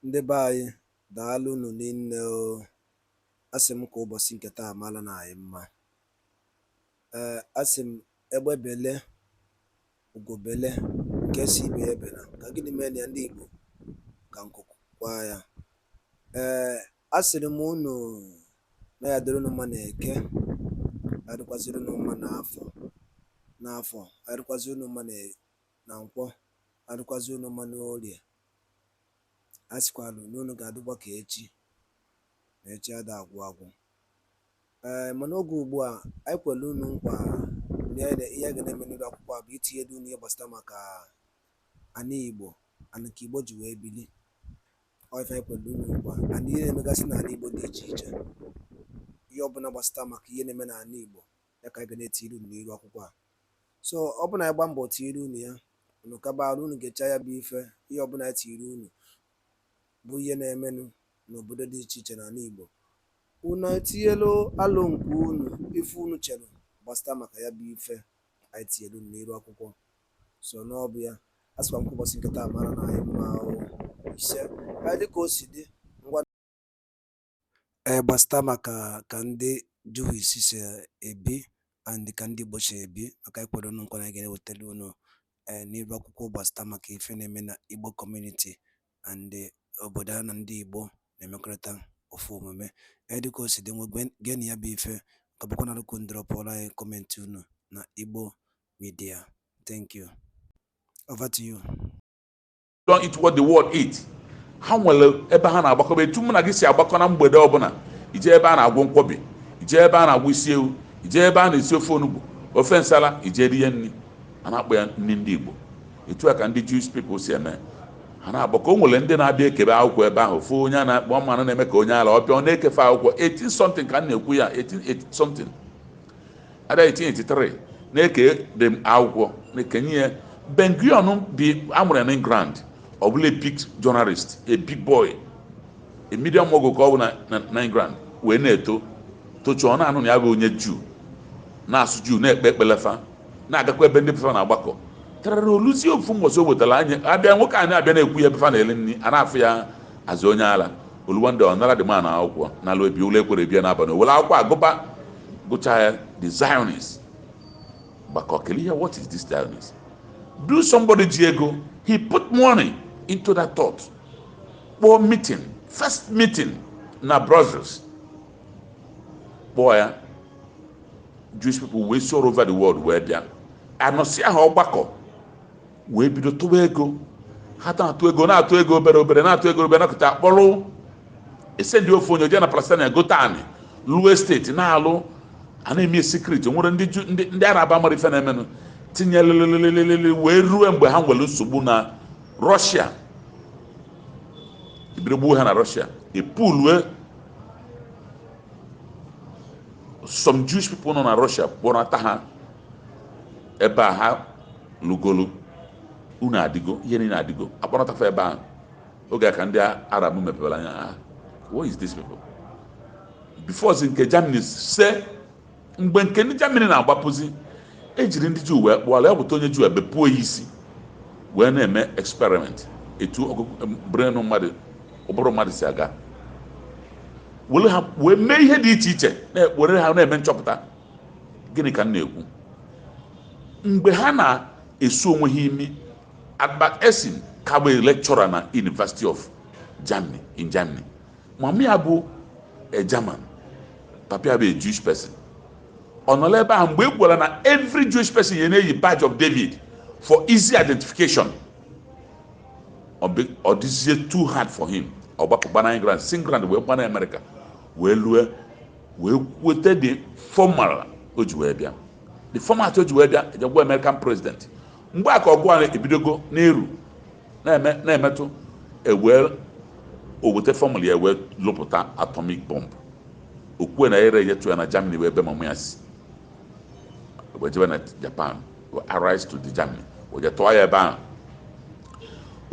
Ndị be anyị daalụ unu niile o asị m ka ụbọchị nke taa mara na anyị mma ee asị m egbe bele ugo bele nke sị ibe ya ebela ka gịnị mee na ya ndị Igbo ka nku kwaa ya ee asịrị m unu na ya dịrị unu mma na eke ya dịkwaziri unu mma n'afọ ya dịkwaziri unu mma na nkwọ ya dịkwaziri unu mma n'orie a sịkwalụ na unu ga-adịkwa ka echi na echi ada agwụ agwụ ee mana oge ugbu a anyị kwere unu nkwa na ihe a ga na-eme n'iru akwụkwọ a bụ itinyelu unu ihe gbasịta maka ana igbo and ka igbo ji wee bili ọ ife anyị kwere unu nkwa and ihe na-emegasị n'ala igbo dị iche iche ihe ọbụla gbasịta maka ihe na-eme n'ala igbo ya ka anyị ga na-etiri unu n'iru akwụkwọ a so ọ bụ na anyị gba mbọ tiiri unu ya unu kaba arụ unu gechaa ya bụ ife ihe ọbụla anyị tiiri unu bụ ihe na-emenụ n'obodo dị iche iche n'ala Igbo unu etinyelu alo nke unu ife unu chere gbasịta maka ya bụ ife anyị tinyere unu n'iru akwụkwọ so n'ọbụ ya a sịkwa m ka ụbọchị nke taa mara na anyị mma ahụ ise dịka o si dị Ee, gbasịta maka ka ndị Jewish si ebi and ka ndị Igbo si ebi maka anyị kwere unu nkwa na anyị ga-ewetara unu ee n'iru akwụkwọ gbasịta maka ife na-eme na Igbo kọmuniti and obodo a na ndị Igbo na-emekọrịta ofu omume. Ee, dịka o si dị ngwa geenụ ya bụ ife ka bụkwa na rụkụ unu dropụọrọ anyị kọmentị unu na Igbo Media. Thank you. Over to you. don't eat what the world eat ha nwere ebe ha na-agbakọba etu mụ na gị si agbakọ na mgbede ọbụla ije ebe a na-agwọ nkwobi ije ebe a na-agwọ isi ewu ije ebe a na-esi ofe onugbu ofe nsala ije rie nri a na-akpọ ya nri ndị igbo etu a ka ndị Jewish people si eme ha na-agbakọ o nwere ndị na-abịa ekebe akwụkwọ ebe ahụ fụ onye a na-akpọ ọma na-eme ka onye ala ọ bịa ọ na-eke fa akwụkwọ 18 something ka m na-ekwu ya 18 something ada 1883 na-eke dị akwụkwọ na-ekenye ya ben gurion bụ a mụrụ ya na england ọ bụlụ a big journalist a big boy a media mogul ka ọ bụ na- na- na england wee na-eto tochaa na-anụ na ya bụ onye juu na-asụ juu na-ekpe ekpele fa na-agakwa ebe ndị be fa na-agbakọ tarara o luzie ofu mbọsị o wetara anya abịa nwoke anyị abịa na-ekwu ebe fa na-eli nri a na-afụ ya as onye ala O lu one day ọ nara the man akwụkwọ n'ala ebi ụlọ ekwere bịa n'abalị o were akwụkwọ agụba gụcha ya the Zionist gbakọ kelee ihe what is this Zionist do somebody ji ego he put money into that thought kpọọ meeting first meeting na Brussels kpọọ ya Jewish people wee si all over the world wee bịa anọsịa ha ọgbakọ wee bido tụwa ego ha na-atụ ego na-atụ ego obere obere na-atụ ego obere nakọta akpọrọ e sendie ofu onye jee na palestine gote anị lụọ estate na-alụ a na-eme secret nwere ndị jew ndị ndị arab amara ife na-emenụ tinye lelelelelele wee ruo mgbe ha nwere nsogbu na russia e bido gbuo ha na russia e pulue some jewish people nọ na russia kpọrọta ha ebe a ha lụgoro ụnọ adịgo ihe niile adịgo a kpọrọta fa ebe ahụ oge a ka ndị arab mepebara anya ha what is this people before si nke germany se mgbe nke ndị germany na-agbapụzi e jiri ndị jew wee kpụọ ala ya buta onye jew e bepụ ya isi wee na-eme experiment etu ọgụgụ brain mmadụ ụbụrụ mmadụ si aga were ha wee mee ihe dị iche iche na-ekporo ha na-eme nchọpụta gịnị ka m na-ekwu mgbe ha na-esu onwe ha imi Albert Einstein ka bụ lecturer na University of Germany in Germany mama ya bụ a German papa ya bụ a Jewish person ọ nọla ebe ahụ mgbe e gwara na every Jewish person ya na-eyi badge of David for easy identification ọ dịzie too hard for him ọ gbapụ gbana England si England wee gbana America wee lue wee weta the formula o ji wee bịa the format o ji wee bịa e je gwa american president mgbe a ka ọgụ a ebidogo na-eru na-eme na-emetụ ewee o weta formula ya wee lụpụta atomic bomb o kwue na ere enyetụ ya na germany ebe mama ya si wee jebe na japan were allies to the germany wee je tụọ ya ebe ahụ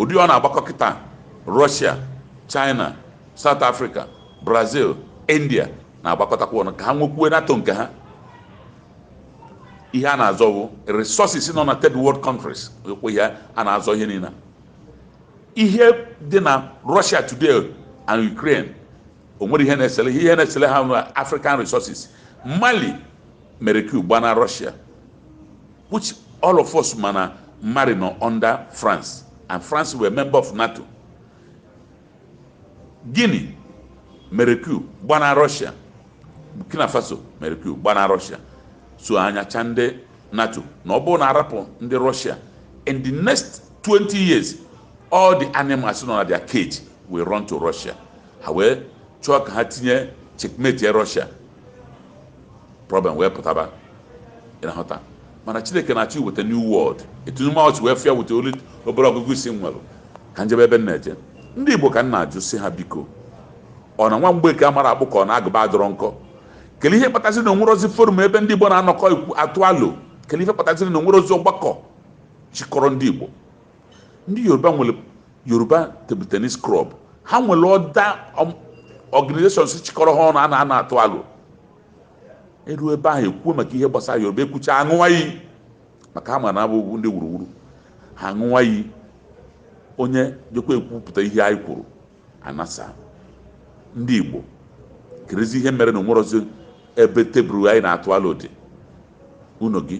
ndị a na-agbakọ kịta russia china south africa Brazil India na-agbakọtakwa ọnụ ka ha nwekwuo NATO nke ha ihe a na-azọ bụ resources nọ na third world countries ekwe ihe a na-azọ ihe niile ihe dị na Russia today and Ukraine o nwere ihe na-esele ihe na-esele ha na African resources Mali mere coup gbana Russia which all of us ma na Mali nọ under France and France were member of NATO Guinea mere coup gbana Russia, Burkina Faso mere coup gbana Russia so anya chaa ndị NATO na ọ bụrụ na a rapụ ndị Russia in the next 20 years all the animals nọ na their cage will run to Russia ha wee chọọ ka ha tinye checkmatie Russia problem wee pụtaba ị na-ahụta ma na chineke na-achọ iweta new world etu ume ọchị wee fịa weta olu obere ọgụgụ isi m nwere ka m jebe ebe m na-eje ndị igbo ka m na-ajụ sị ha biko ọ na nwa mgbeke amarọ akpụ ka ọ na agụba adịrọ nkọ kelee ihe kpataziri na o nwerozi forum ebe ndị igbo na-anọkọ atụ alo kelee ihe kpataziri na o nwerozi ọgbakọ chịkọrọ ndị igbo ndị yoruba nwere yoruba table tennis club ha nwere other organizations chịkọrọ ha ọnụ a na-anọ atụ alo e ruo ebe ahụ e kwuo maka ihe gbasara yoruba e kwuchaa aṅụwa iyi maka ha ma na ha bụ ndị wuruwuru ha aṅụwa iyi onye jekwa ekwupụta ihe anyị kwuru a nasaa ndị Igbo kerezi ihe mere na o nwerozi ebe table anyị na-atụ alo dị ụnọ gị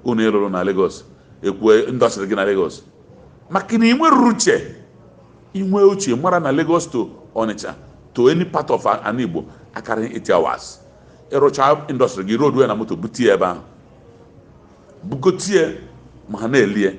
ụnọ ị lụrụ na Lagos ekwue industry gị na Lagos maka na i nwerọ uche i nwee uche mara na Lagos to Onitsha to any part of ana Igbo akarịghị 8 hours ị rụchaa industry gị load na moto butie ebe ahụ bugotie ma ha na-elie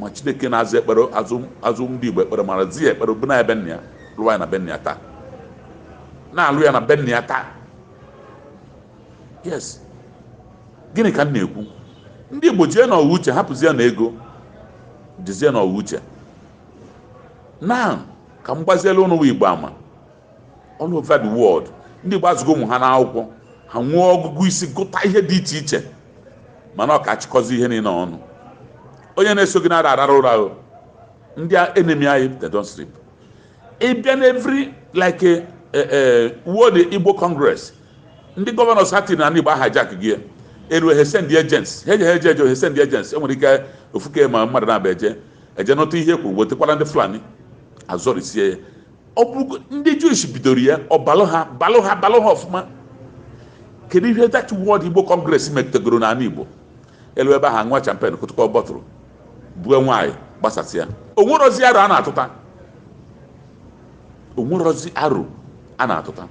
ma chineke na-aza ekpere azaa ndị igbo ekpere mara zi ya ekpere bụ na ya be nna ya lụwa ya na be nna ya taa na-alụ ya na be nna ya taa yes gịnị ka m na-ekwu ndị igbo jie na ọ wụ uche hapụzie na ego jizie na ọ wụ uche na ka m gbaziela unu igbo ama all over the world ndị Igbo azụgo ụmụ ha n'akwụkwọ ha nwee ọgụgụ isi gụta ihe dị iche iche mana ọ ka achịkọzi ihe niile ọnụ onye na-eso gị na-ara arara ụra ahụ ndị enemy anyị they don't sleep ị bịa na every like a, a, a World Igbo Congress ndị governors ha tiri na Igbo a hijack gị elu he send agents he je he je eje he send agents e nwere ike ofuke ma mmadụ na-abịa eje eje nụta ihe e kwuru wetekwara ndị Fulani azọrisie ya ọ bụ ndị Jewish bidoro ya ọ balụ ha balụ ha balụ ha ọfụma kedu ihe that World Igbo Congress metagoro n'ana Igbo e luo ebe ahụ ṅụa champagne kụtụkọ bottle bue nwaanyị gbasasịa o nwerozi aro a na-atụta o nwerozi aro a na-atụta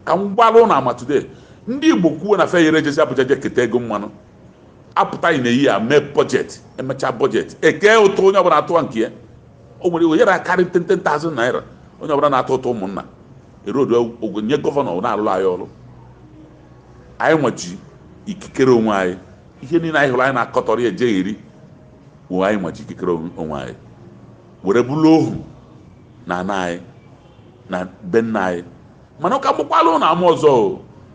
ka m gbalụ unu ama today ndị Igbo kwuo na feyere jezi Abuja je keta ego mmanụ a pụta in a year mee budget e mechaa budget e kee ụtụ onye ọbụla atụwa nke ya o nwere ike yara akarị ten ten thousand naira onye ọbụla na-atụ ụtụ ụmụnna e load ego nye governor na-alụrụ anyị ọrụ anyị nwa ji ikikere onwe anyị ihe niile anyị hụrụ anyị na-akọtọrọ ya ejegheri wụ anyị nwa ji ikikere onwe anyị were bụrụ ohu na ana anyị na be nna anyị mana ka m gbakwalụnụ ama ọzọ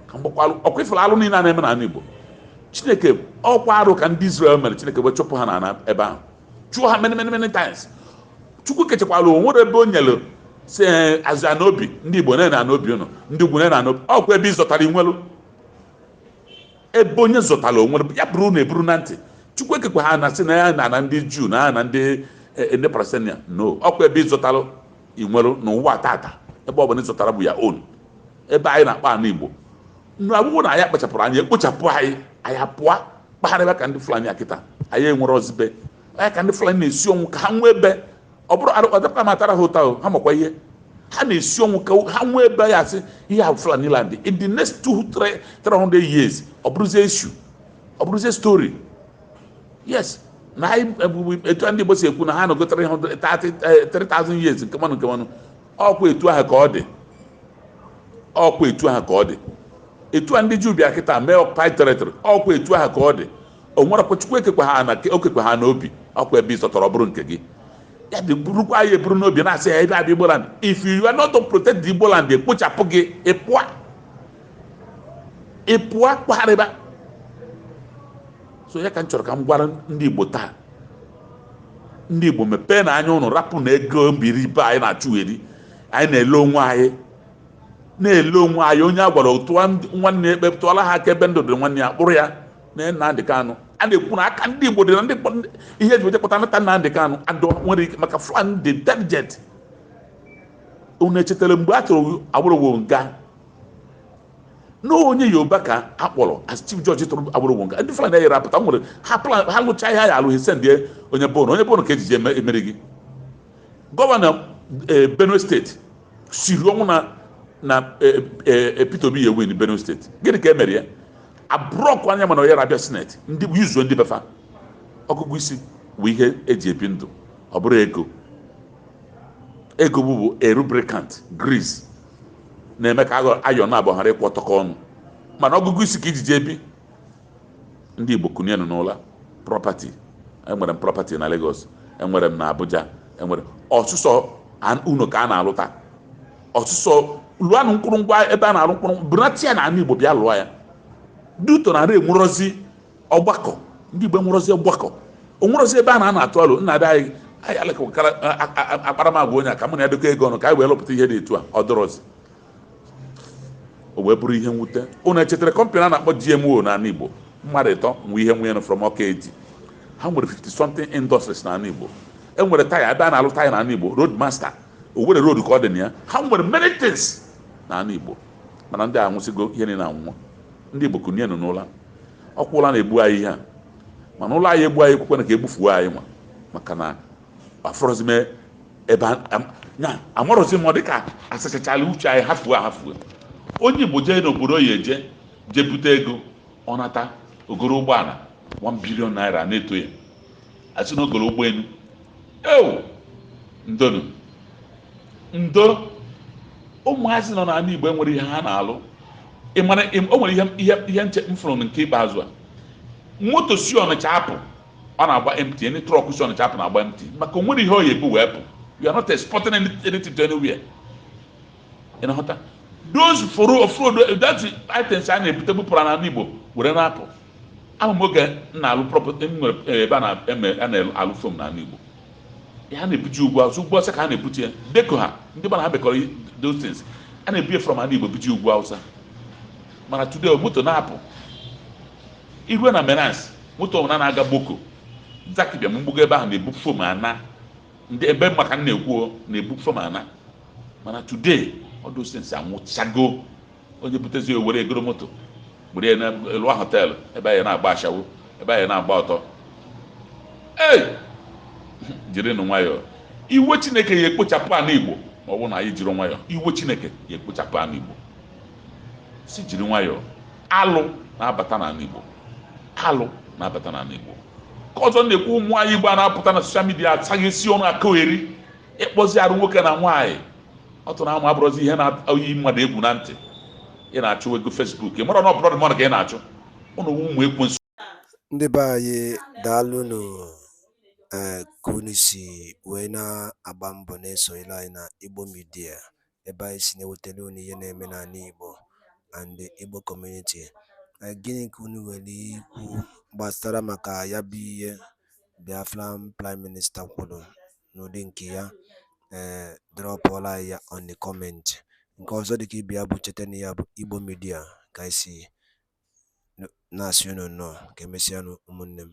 ka m gbakwalụ ọkwa ifere alụ niile a na-eme n'ala Igbo chineke ọkwa arụ ka ndị Izrel mere chineke wee chụpụ ha n'ala ebe ahụ chụọ ha many many many times chukwu kechakwa ala o nwere ebe o nyere sị eh, azụ ana obi ndị Igbo nee ana obi ụnụ ndị ugwu nee ana obi ọkwa ebe ị zọtara i nwelu ebe onye zọtara o nwere ya burunụ ya eburu na ntị chukwu ekekwaha ana sị nee ana ndị Juu nee ana ndị eh, ndị Palestinian no ọkwa ebe ị zọtara i nwere n'ụwa tata ebe ọ bụla ị zọtara bụ your own ebe anyị na-akpọ ana igbo nụ ọ bụrụ na anyị akpachapụrọ anya e kpochapụ anyị anyị apụọ kpagharịba ka ndị fulani kịta anyị enwerozi be anyị ka ndị fulani na-esi ọnwụ ka ha nwee ebe ọ bụrụ adịkwa m atara ha ụta ha makwa ihe ha na-esi ọnwụ ka ha nwee ebe ya asị ihe a fulani land in the next two three hundred years ọ bụrụzie issue ọ bụrụzie story yes na anyị ebubu etu a ndị Igbo si ekwu na ha nọgo 300 30, 3000 years nke mmanụ nke mmanụ ọkwa etu ahụ ka ọ dị ọkwa etu ahụ ka ọ dị etu a ndị Juu bịa kịta mee occupied territory ọkwa etu ahụ ka ọ dị o nwere kwa Chukwu ekekwaha ana o kekwaha ana obi ọkwa ebe ị zọtara bụrụ nke gị ya dị burukwanụ ya eburu n'obi na-asị ya ebe a bụ Igboland if you are not to protect the Igboland e kpochapụ gị ị pụa ị pụọ kpagharịba so ya ka m chọrọ ka m gwara ndị Igbo taa ndị Igbo mepeenụ anya ụnụ rapụnụ ego mbiribe anyị na-achụgheri anyị na-ele onwe anyị na-ele onwe anyị onye a gwara tụọ nwanne ya ekpe tụọla ha aka ebe ndụ dị nwanne ya kpụrụ ya na Nnamdị Kanụ a na-ekwu na aka ndị Igbo dị na ndị ihe ji wee je kpụta nata Nnamdị Kanụ adọ nwere ike maka Fulani dị intelligent unu echetara mgbe a tụrụ Awolowo nga na onye yoruba ka a kpọrọ as chief judge tụrụ Awolowo nga ndị fulani yere apụta nwere ha plan ha lụcha ihe ha ya-alụ ha esendie onye be unu onye be unu ka e jiji emeri gị gọvanọ eh, benue steeti siri ọnwụ na na eh, eh, peter obi ya-ewin benue steeti gịnị ka e mere ya a blọkụọ ya mana oyere abịa sineti ndị yuzuo ndị be fa ọgụgụ isi bụ ihe eji ebi ndụ ọ bụrọ ego ego bụ bụ a lubricant grease na-eme ka aghọ- iron abụọ ghara ịkwọtọkọ ọnụ mana ọgụgụ isi ka e jiji ebi ndị igbo kunienụ n'ụla prọpati enwere m prọpati na Lagos enwere m na Abuja enwere m ọsụsọ an- unu ka a na-alụ taa ọsụsọ lụanụ mkpụrụ ngwa ebe a na-alụ mkpụrụ burunata ya na ana igbo bịa lụọ ya due to na ara enwerozi Ọgbakọ, ndị Igbo enwerọzi ọgbakọ. O nwerọzi ebe a na a na-atụ alo nna be anyị anyị alekọkara a- a- a- akparamagwa onye a ka mụ na ya dịkọ ego ọnụ ka anyị wee lụpụta ihe dị etu a ọ dịrọzi o wee bụrụ ihe mwute ụnụ echetara kọmpanị a na-akpọ GMO n'ala Igbo mmadụ ịtọ nwe ihe nwunye nọ from Ọka Etiti ha nwere 50 something industries n'ala Igbo e nwere taya ebe a na-alụ taya n'ala Igbo road master Owerri road ka ọ dị na ya ha nwere many things n'ala Igbo mana ndị a nwụsịgo ihe niile anwụọ ndị Igbo kunienu n'ụla ọkwa ụla na-egbu anyị ihe a mana ụla ya egbu anyị ekwekwana ka egbufuo anyị nwa maka na afụrọzi m ebe na amarọzi m ọ dịka asachachala uche anyị hafuo ahafuo onye Igbo jee n'obodo ọ ya eje jee bute ego ọ nata o goro ụgbọala 1 bilion naira na-eto ya a sị na o goro ụgbọelu ewo ndonu ndo ụmụazị nọ n'ala igbo enwerọ ihe ha na-alụ ị mara ị- o nwere ihe ihe ihe nke m fụrụ nke ikpeazụ a moto si ọnịcha apụ ọ na-agba empty any trọk si ọnịcha apụ na-agba empty maka o nwerọ ihe ọ ya ebu wee pụ you are not exporting any- anything to anywhere ị na-aghọta those foro ofrodo that items a na-ebute bupụrụ n'ala igbo were na-apụ Ama m oge m na-alụ prọpọti m nwere eh, ebe a na-eme a na-alụ fom n'ala Igbo ha na-ebuje ugwu awụsa ugwu awụsa ka ha na-ebute ya deko ha ndị mana ha bekọrọ i- those things a na-ebu ya from ala Igbo buje ugwu awụsa mana today moto na-apụ irue na Menax moto ọbụla na-aga Gboko Zaki Biam mgbugo ebe ahụ na-ebu fom ana ndị ebe maka m na-ekwu o, na-ebu fom ana mana today all those things anwụchago onye butezi o were ya goro moto buru ya na-alụ họteelụ ebe anyị na-agba ashawo ebe anyị na-agba ọtọ ee jirinụ nwayọọ iwe chineke ya ekpochapụ ala igbo ma ọ bụrụ na anyị ejighi nwayọọ iwe chineke ya ekpochapụ ala igbo sị jiri nwayọọ alụ na-abata n'ala igbo alụ na-abata n'ala igbo nke ọzọ m na-ekwu ụmụ nwaanyị igbo a na-apụta na soshal midia asaghesi ọnụ akọgheri ịkpọzi arụ nwoke na nwaanyị ọtụ na amụ abụrọzi ihe na-eyi mmadụ egwu na ntị ị na-achụ ego fesbuk ị mara na ọ bụrọ mmadụ ka ị na-achụ ụnụ wu ụmụ ekwensu ndị be anyị daalụnụ ee ka unu si wee na-agba mbọ na-esonyere anyị na igbo midia ebe anyị si na-ewetara unu ihe na-eme n'ala igbo and igbo kọmuniti gịnị ka unu nwere ikwu gbasara maka ya bụ ihe biafran prime minista kwuru n'ụdị nke ya ee eh, drọpụọla anyị ya on the comment nke ọzọ dịka ibe ya bụ cheta na ya bụ Igbo midia ka anyị si na-asị unu nnọọ ka emesịanụ ụmụnne m